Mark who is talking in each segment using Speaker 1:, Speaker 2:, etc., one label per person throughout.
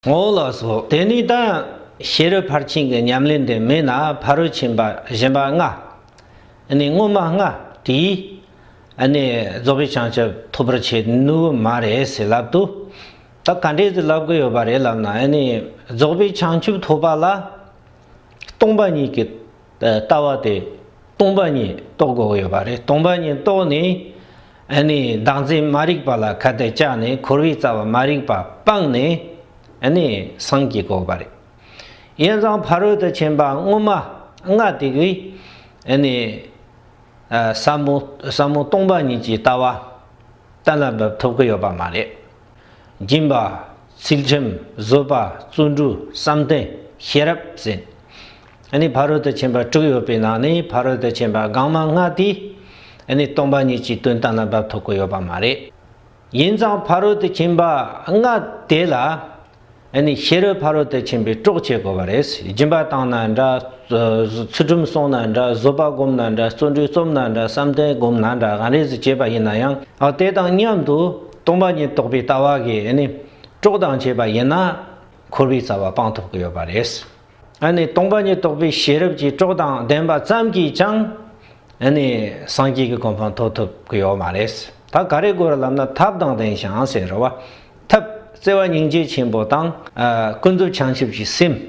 Speaker 1: ངོ་བོ་ལ་སོགས་དེ་ནི་དང། ཤེས་རབ་ཕར་ཕྱིན་གྱི་ཉམས་ལེན་དེ་མེད་ན་ཕ་རོལ་ཕྱིན་པ་གཞན་པ་ལྔ། ནི་སྔོན་མ་ལྔ་དེའི། ནི་རྫོགས་པའི་བྱང་ཆུབ་ཐོབ་པར་བྱེད་ནུས་པ་མ་རེད་ཟེར་ལབ་ཏུ། ད་ག་འདྲས་ཏེ་ལབ་དགོས་ཡོད་པ་རེད་ལབ་ན་ནི་རྫོགས་པའི་བྱང་ཆུབ་ཐོབ་པ་ལ། སྟོང་པ་ཉིད་ཀྱི། ལྟ་བ་དེ་སྟོང་པ་ཉིད་རྟོགས་དགོས་ཡོད་པ་རེད་སྟོང་པ་ཉིད་རྟོགས་ནས་བདག་འཛིན་མ་རིག་པ་ལ་ཁ་གཏད་བཅག་ནས་འཁོར་བའི་རྩ་བ་མ་རིག་པ་སྤངས་ནས་སངས་ཀྱི་དགོས་པ་རེད། ཡན་ཙང་ཕ་རོལ་ཏུ་ཕྱིན་པ་སྔོན་མ་ལྔ་དེ་གའི་ཟབ་མོ་སྟོང་པ་ཉིད་ཀྱི་ལྟ་བ་གཏན་ལ་འབེབས་ཐུབ་ཀྱི་ཡོད་པ་མ་རེད། སྦྱིན་པ། ཚུལ་ཁྲིམས་བཟོད་པ་བརྩོན་འགྲུས་བསམ་གཏན་ཤེས་རབ་ཟིན། ནི་ཕ་རོལ་ཏུ་ཕྱིན་པ་དྲུག་ཡོད་པའི་ནང་ནས་ཕ་རོལ་ཏུ་ཕྱིན་པ་སྒང་མ་ལྔ་དེ། ནི་སྟོང་པ་ཉིད་ཀྱི་དོན་དང་རྣམ་པར་ཐོབ་གོ་ཡོད་པ་མ་རེད། ཡིན་ཙང་ཕ་རོལ་ཏུ་ཕྱིན་པ་ལྔ་དེ་ལ། ནི་ཕྱི་རོལ་ཕ་རོལ་ཏུ་ཕྱིན་པའི་དཀྲོགས་བྱེད་དགོས་པ་རེད། སྦྱིན་པ་བཏང་ན་འདྲ། ཚུལ་ཁྲིམས་བསྲུང་ན་འདྲ་བཟོད་པ་བསྒོམ་ན་འདྲ་བརྩོན་འགྲུས་རྩོམ་ན་འདྲ་བསམ་གཏན་བསྒོམ་ན་འདྲ་གང་རེད་ཟེར་བྱེད་པ་ཡིན་ན་ཡང། དེ་དང་མཉམ་དུ་སྟོང་པ་ཉིད་རྟོགས་པའི་ལྟ་བ་གིས་ནི། དཀྲོགས་དང་བྱས་པ་ཡིན་ན། འཁོར་བའི་རྩ་བ་སྤང་ཐུབ་གི་ཡོད་པ་རེད། ཨ་ནི་སྟོང་པ་ཉིད་རྟོགས་པའི་ཤེས་རབ་ཀྱིས་སྤྲོ་དང་ལྡན་པ་ཙམ་གྱིས་ཀྱང། ཨ་ནི་སངས་རྒྱས་ཀྱི་གོ་འཕང་ཐོབ་ཐུབ་ཀྱི་ཡོད་མ་རེད། ད་ག་རེ་གོ་རེ་ལབ་ན་ཐབས་དང་ལྡན་ཞིང་ཟེར་རོ། ཐབས་བརྩེ་བ་སྙིང་རྗེ་ཆེན་པོ་དང། ཀུན་རྫོབ་བྱང་ཆུབ་ཀྱི་སེམས།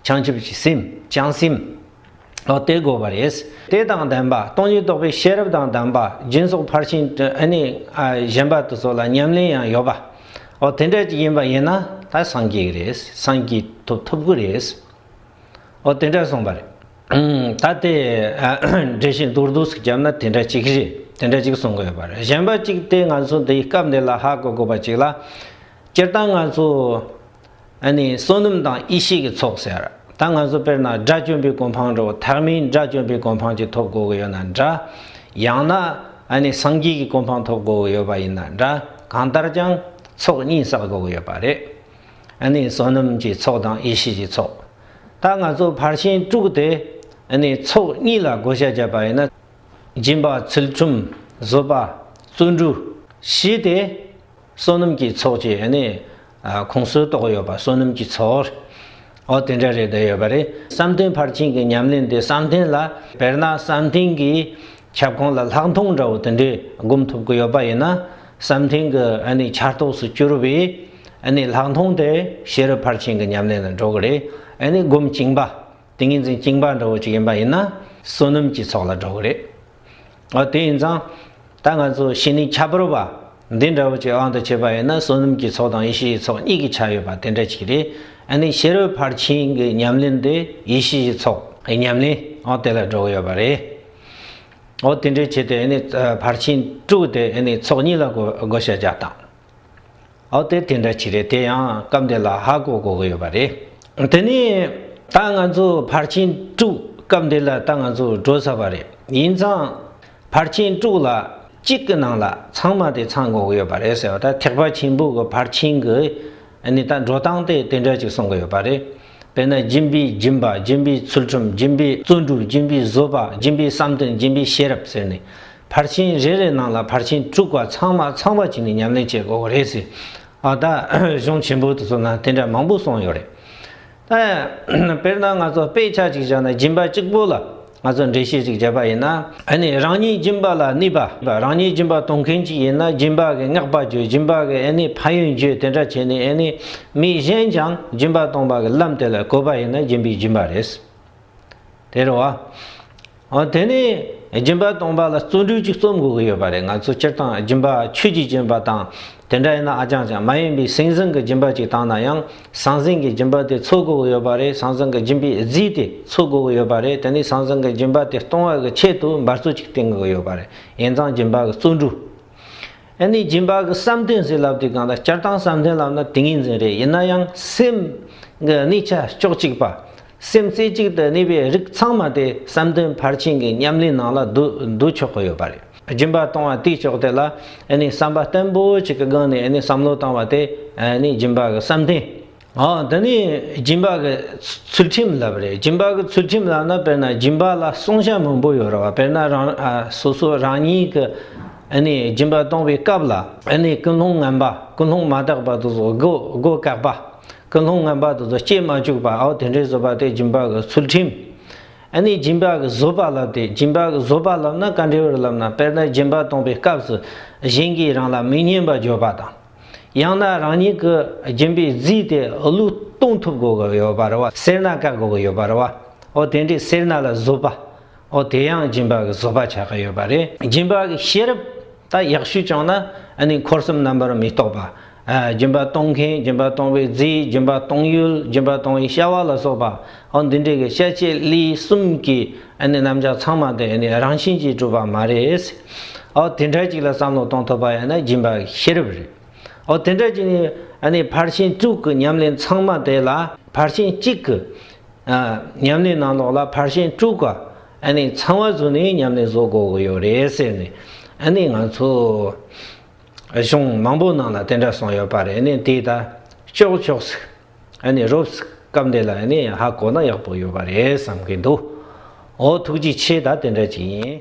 Speaker 1: བྱང་ཆུབ་ཀྱི་སེམས། བྱང་སེམས། ཨོ་དེ་དགོས་པ་རེད། དེ་དང་ལྡན་པ་སྟོང་ཉིད་རྟོགས་པའི་ཤེས་རབ་དང་ལྡན་པ་སྦྱིན་སོགས་ཕར་ཕྱིན་གཞན་པ་དུ་སོགས་ལ་ཉམས་ལེན་ཡང་ཡོད་པ། ཨོ་དེ་འདྲ་ཅིག་ཡིན་པ་ཡིན་ན་ད་སངས་རྒྱས་རེད་སངས་རྒྱས་ཐོབ་ཐུབ་གི་རེད། ཨོ་དེ་འདྲ་གསུངས་པ་རེད། ད་དེ་འགྲེལ་བྱེད་མདོར་བསྡུས་སུ་བརྒྱབ་ན་དེ་འདྲ་ཅིག་རེད་དེ་འདྲ་ཅིག་གསུང་དགོས་པ་རེད་གཞན་པ་ཅིག་དེ་ང་ཚོ་འདི་སྐབས་འདི་ལ་ཧ་གོ་དགོས་པ་ཅིག་ལ། སྤྱིར་བཏང་ང་ཚོ་བསོད་ནམས་དང་ཡེ་ཤེས་ཀྱི་ཚོགས་ཟེར། ད་ང་ཚོ་དཔེར་ན་དགྲ་བཅོམ་པའི་གོ་འཕང་འགྲོ་ཐག་མིན་དགྲ་བཅོམ་པའི་གོ་འཕང་ཅིག་ཐོབ་དགོས་ཀྱི་ཡོད་ན་འདྲ། ཡང་ན་སངས་རྒྱས་ཀྱི་གོ་འཕང་ཐོབ་དགོས་ཀྱི་ཡོད་པ་ཡིན་ན་འདྲ་གང་ལྟར་ཀྱང་ཚོགས་གཉིས་བསགས་དགོས་ཀྱི་ཡོད་པ་རེད། བསོད་ནམས་ཀྱི་ཚོགས་དང་ཡེ་ཤེས་ཀྱི་ཚོགས། ད་ང་ཚོ་ཕར་ཕྱིན་དཀྲུགས་ཏེ་ཚོགས་གཉིས་ལ་བགོ་བཤའ་བརྒྱབ་པ་ཡིན་ན། སྦྱིན་པ་ཚུལ་ཁྲིམས་བཟོད་པ་བརྩོན་འགྲུས། ཞེས་ཏེ། བསོད་ནམས་ཀྱི་ཚོགས་ཀྱི་ནི། གོང་གསོལ་གཏོགས་ཡོད་པ་བསོད་ནམས་ཀྱི་ཚོགས། འོ་དེ་འདྲ་རེ་ད་ཡོད་པ་རེད། བསམ་གཏན་ཕར་ཕྱིན་གྱི་ཉམས་ལེན་དེ་བསམ་གཏན་ལ་དཔེར་ན་བསམ་གཏན་གྱི་ཁྱབ་ཁོངས་ལ་ལྷག་མཐོང་འདྲ་བོ་དེ་འདྲས་སྒོམ་ཐུབ་ཀྱི་ཡོད་པ་ཡིན་ན་བསམ་གཏན་གྱི་ནི་ཆར་གཏོགས་སུ་གྱུར་པའི་ནི་ལྷག་མཐོང་དེ་ཤེས་རབ་ཕར་ཕྱིན་གྱི་ཉམས་ལེན་ལ་འགྲོ་གི་རེད་ནི་སྒོམ་བཅིངས་པ་ཏིང་ངེ་འཛིན་བཅིངས་པ་འདྲ་བོ་ཅིག་ཡིན་པ་ཡིན་ན་བསོད་ནམས་ཀྱི་ཚོགས་ལ་འགྲོ་གི་རེད། ཨོ་དེ་ཡིན་ཙང། ད་ང་ཚོ་ཤི་ནས་ཁྱབ་པར་བ། འདི་འདྲ་བོ་ཅིག་དབང་དུ་བྱེད་པ་ཡིན་ན་བསོད་ནམས་ཀྱི་ཚོགས་དང་ཡེ་ཤེས་ཀྱི་ཚོགས་གཉིས་ཀྱི་ཆ་ཡོད་པ་དེ་འདྲ་ཅིག་རེད། ཨ་ནི་ཤེས་རབ་ཕར་ཕྱིན་གྱི་ཉམས་ལེན་དེ་ཡེ་ཤེས་ཀྱི་ཚོགས། གི་ཉམས་ལེན་ཨོ་དེ་ལ་འགྲོ་གི་ཡོད་པ་རེད། ཨོ་དེ་འདྲའི་ཆེད་དུ་ཨ་ནི་ཕར་ཕྱིན་དྲུག་དེ་ཨ་ནི་ཚོགས་གཉིས་ལ་བགོ་བཤའ་རྒྱག་སྟངས། འོ་དེ་དེ་འདྲ་ཅི་རེད་དེ་ཡང་སྐབས་འདི་ལ་ཧ་གོ་གོ་གི་ཡོད་པ་རེད། དེ་ནས་ད་ང་ཚོ་ཕར་ཕྱིན་དཀྲུགས་སྐབས་འདི་ལ་ད་ང་ཚོ་འགྲོ་ས་པ་རེད་ཡིན་ཙང། ཕར་ཕྱིན་དཀྲུགས་ལ་གཅིག་གི་ནང་ལ་ཚང་མ་དེ་ཚང་གོ་གི་ཡོད་པ་རེད་ཟེར་བ་ད་ཐེག་པ་ཆེན་པོ་གི་ཕར་ཕྱིན་གི་ནི་ད་འགྲོ་སྟངས་དེ་དེ་འདྲ་ཅིག་སོང་གི་ཡོད་པ་རེད། དཔེར་ན་སྦྱིན་པའི་སྦྱིན་པ་སྦྱིན་པའི་ཚུལ་ཁྲིམས་སྦྱིན་པའི་བརྩོན་འགྲུས་སྦྱིན་པའི་བཟོད་པ་སྦྱིན་པའི་བསམ་གཏན་སྦྱིན་པའི་ཤེས་རབ་ཟེར་ནས། ཕར་ཕྱིན་རེ་རེའི་ནང་ལ་ཕར་ཕྱིན་དྲུག་བར་ཚང་མ་ཚང་བར་བྱས་ནས་ཉམས་ལེན་བྱེད་དགོས་པ་རེད་ཟེར། ཨ་ད། གཞུང་ཆེན་པོ་དེ་ཚོ་ན་དེ་འདྲ་མང་པོ་སོང་ཡོད་རེད། ཨ། དཔེར་ན་ང་ཚོ་དཔེ་ཆ་གཅིག་བཞག་ན་སྦྱིན་པ་གཅིག་པོ་ལ་ང་ཚོ་འགྲེལ་བཤད་གཅིག་བྱས་པ་ཡིན་ན། ཨ་ནི་རང་ཉིད་སྦྱིན་པ་ལ་གནས་པ། རང་ཉིད་སྦྱིན་པ་གཏོང་མཁན་གཅིག་ཡིན་ན་སྦྱིན་པ་གི་བསྔགས་པ་བརྗོད་སྦྱིན་པ་གི་ཨ་ནི་ཕན་ཡོན་བརྗོད་དེ་འདྲ་བྱས་ནས་ཨ་ནི་མི་གཞན་ཀྱང་སྦྱིན་པ་གཏོང་བ་གི་ལམ་དེ་ལ་གོ་བ་ཡིན་ན་སྦྱིན་པའི་སྦྱིན་པ་རེད། དེར་བ། འོ་དེ་ནས་སྦྱིན་པ་སྟོང་པ་ལ་བརྩོན་འགྲུས་ཅིག་རྩོམ་དགོས་ཀྱི་ཡོད་པ་རེད་ང་ཚོ་སྤྱིར་བཏང་སྦྱིན་པ་ཆོས་ཀྱིས་བྱིན་པ་དང་དེ་འདྲ་ཡིན་ན་ཨ་ཅང་ཅང་མ་ཡིན་པའི་སེང་ཟིང་གི་སྦྱིན་པ་ཅིག་བཏང་ན་ཡང་ཟང་ཟིང་གི་སྦྱིན་པ་དེ་འཚོལ་དགོས་ཀྱི་ཡོད་པ་རེད་ཟང་ཟིང་གི་སྦྱིན་པའི་རྫས་དེ་འཚོལ་དགོས་ཀྱི་ཡོད་པ་རེད་དེ་ནས་ཟང་ཟིང་གི་སྦྱིན་པ་དེ་གཏོང་བ་གི་ཆེད་དུ་འབར་རྩོལ་ཅིག་བསྟེན་དགོས་ཀྱི་ཡོད་པ་རེད་ཡིན་ཙང་སྦྱིན་པ་གི་བརྩོན་འགྲུས། ཨ་ནི་སྦྱིན་པ་གི་བསམ་གཏན་ཟིན་ལབ་དེ་གང་ལ་སྤྱིར་བཏང་བསམ་གཏན་ལབ་ན་དེ་ངེས་འཛིན་རེད་ཡིན་ན་ཡང་སེམས་ཀྱི་གནས་ཆ་ཕྱོགས་གཅིག་པ། སེམས་རྩེ་གཅིག་ཏུ་གནས་པའི་རིགས་ཚང་མ་དེ་བསམ་གཏན་ཕར་ཕྱིན་གྱི་ཉམས་ལེན་ནང་ལ་བསྡུ་ཆོག་གི་ཡོད་པ་རེད་སྦྱིན་པ་གཏོང་བ་དེའི་ཕྱོགས་དེ་ལ་ཨ་ནི་བསམ་པ་བརྟན་པོ་གཅིག་གི་སྒང་ནས་ཨ་ནི་བསམ་བློ་བཏང་བ་དེ་ཨ་ནི་སྦྱིན་པ་གི་བསམ་གཏན་འདི་ནི་སྦྱིན་པ་གི་ཚུལ་ཁྲིམས་ལབ་རེད་སྦྱིན་པ་གི་ཚུལ་ཁྲིམས་ལབ་ན་དཔེར་ན་སྦྱིན་པ་ལ་བསྲུང་བྱ་མང་པོ་ཡོད་རེད་བ་དཔེར་ན་རང་སོ་སོ་རང་ཉིད་ཀྱི་སྦྱིན་པ་གཏོང་བའི་སྐབས་ལ་ཀུན་སློང་ངན་པ་ཀུན་སློང་མ་དག་པ་དེ་ཚོ་སྒོ་བཀག་པ་ཀུན་སློང་ངན་པ་དེ་ཚོ་སྐྱེ་མ་བཅུག་པ་འོ་དེ་འདྲའི་བཟོད་པ་དེ་སྦྱིན་པ་གི་ཚུལ་ཁྲིམས་ཨཱ་ནི་སྦྱིན་པ་གི་བཟོད་པ་ལབ་དེ་སྦྱིན་པ་གི་བཟོད་པ་ལབ་ན་ག་འདྲའི་བར་ལབ་ན་དཔེར་ན་སྦྱིན་པ་གཏོང་བའི་སྐབས་སུ་གཞན་གྱིས་རང་ལ་མི་སྙན་པ་བརྗོད་པ་དང། ཡང་ན་རང་ཉིད་ཀྱི་སྦྱིན་པའི་རྫས་དེ་བློས་གཏོང་ཐུབ་དགོས་ཀྱི་ཡོད་པར་བ། སེར་སྣ་བཀག་དགོས་ཀྱི་ཡོད་པར་བ། འོ་དེ་འདྲའི་སེར་སྣ་ལ་བཟོད་པ། འོ་དེ་ཡང་སྦྱིན་པ་གྱི་བཟོད་པ་ཆགས་ཀྱི་ཡོད་པ་རེད། སྦྱིན་པ་གྱི་ཤེས་རབ་ད་ཡག་ཤོས་བྱུང་ན་ནི་འཁོར་གསུམ་རྣམ་པར་མི་རྟོག་པ། སྦྱིན་པ་གཏོང་མཁན་སྦྱིན་པ་གཏོང་བའི་རྫས་སྦྱིན་པ་གཏོང་ཡུལ་སྦྱིན་པ་གཏོང་བའི་བྱ་བ་ལ་སོགས་པ་འོ་འདི་འདྲའི་གྱི་བཤད་བྱའི་གླེའི་གསུམ་གྱི་ཨ་ནི་རྣམ་གཞག་ཚང་མ་དེ་ཨ་ནི་རང་བཞིན་གྱིས་གྲུབ་པ་མ་རེད། ཨོ་དེ་འདྲ་ཅིག་ལ་བསམ་བློ་གཏོང་ཐུབ་པ་ཡང་ན་སྦྱིན་པ་ཤེས་རབ་རེད། ཨོ་དེ་འདྲ་ཅིག་ནི་ཨ་ནི་ཕར་ཕྱིན་དྲུག་གི་ཉམས་ལེན་ཚང་མ་དེ་ལ་ཕར་ཕྱིན་གཅིག་གི། ཨ། ཉམས་ལེན་ནང་ལོགས་ལ་ཕར་ཕྱིན་དྲུག་ག་ཨ་ནི་ཚང་བ་ཟུར་ནས་ཉམས་ལེན་བཟོ་དགོས་ཀྱི་ཡོད་རེད་ཟེར་ནས་ཨ་ནི་ང་ཚོ། གཞུང་མང་པོ་ནང་ལ་དེ་འདྲ་གསུངས་ཡོད་པ་རེད་ཨ་ནི་དེ་ད་ཅོག་ཅོག་ཟིག། རོབས་སྐབས་འདི་ལ་ཧ་གོ་ན་ཡག་པོ་ཡོད་པ་རེད་བསམ་གྱི་འདུག་འོ་ཐུགས་རྗེ་ཆེ་ད་དེ་འདྲ་ཅིག་ཡིན།